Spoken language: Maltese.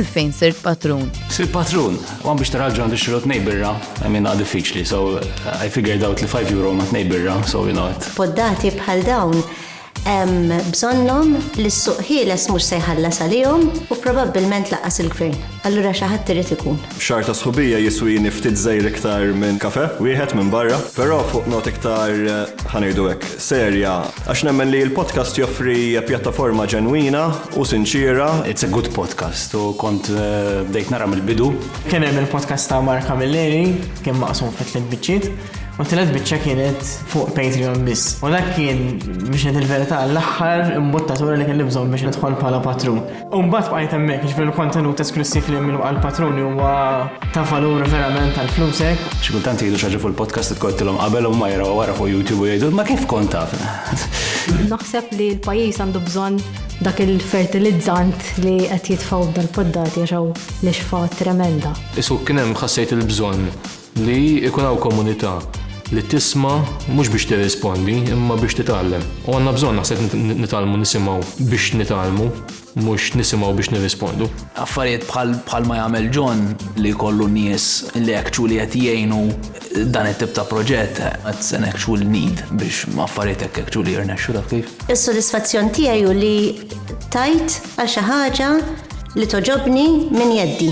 għalfejn sirt patrun. Sir patrun, għan biex taraġġu għandu xirot nejbirra, għamin għad diffiċli, so I figured out li 5 euro ma t-nejbirra, so you know it. Poddati bħal dawn, bżonnom li s-suq ħieles mux sejħalla salijom u probabilment laqas il-gvern. Allura xaħat trid ikun. Xahar ta' sħubija jiswini ftit żgħir iktar minn kafè wieħed minn barra, però fuq nota iktar, ħa ngħidu hekk, serja, għax nemmen li l-podcast joffri pjattaforma ġenwina u sinċiera. It's a good podcast u kont bdejt nara mill-bidu. Kien hemm il-podcast ta' Mark Camilleri, kien maqsum fi tliet biċċiet, u t-tielet biċċa kienet fuq Patreon biss. U dak kien, biex ngħid il-verità, l-aħħar imbuttatura li kelli bżonn biex nidħol bħala patrun. Umbat bqajt hemmhekk, ġifieri l-kontenut esklussiv li minnu għal patruni huwa ta' valur verament għal flusek. Xi kultant jgħidu xi ħaġa fuq il-podcast li tkottilhom qabel huma jaraw wara fuq YouTube u jgħidu ma kif kont taf. Naħseb li l-pajjiż għandu bżonn dak il-fertilizzant li qed jitfgħu b'dal-poddati għax hawn l-ixfa tremenda. Isu kien hemm ħassejt il-bżonn Li jkun hawn komunità li tisma' mhux biex tirrispondi imma biex titgħallem. U għandna bżonn naħseb nitgħallmu nisimgħu biex nitgħallmu mhux nisimgħu biex nirrispondu. Affarijiet bħal ma jagħmel John li jkollu nies li actually qed jgħinu dan it-tip ta' proġett that's an actual need biex affarijiet hekk actually jirnexxu taf kif. Is-sodisfazzjon tiegħi hu li tajt għal xi ħaġa li togħġobni minn jeddi.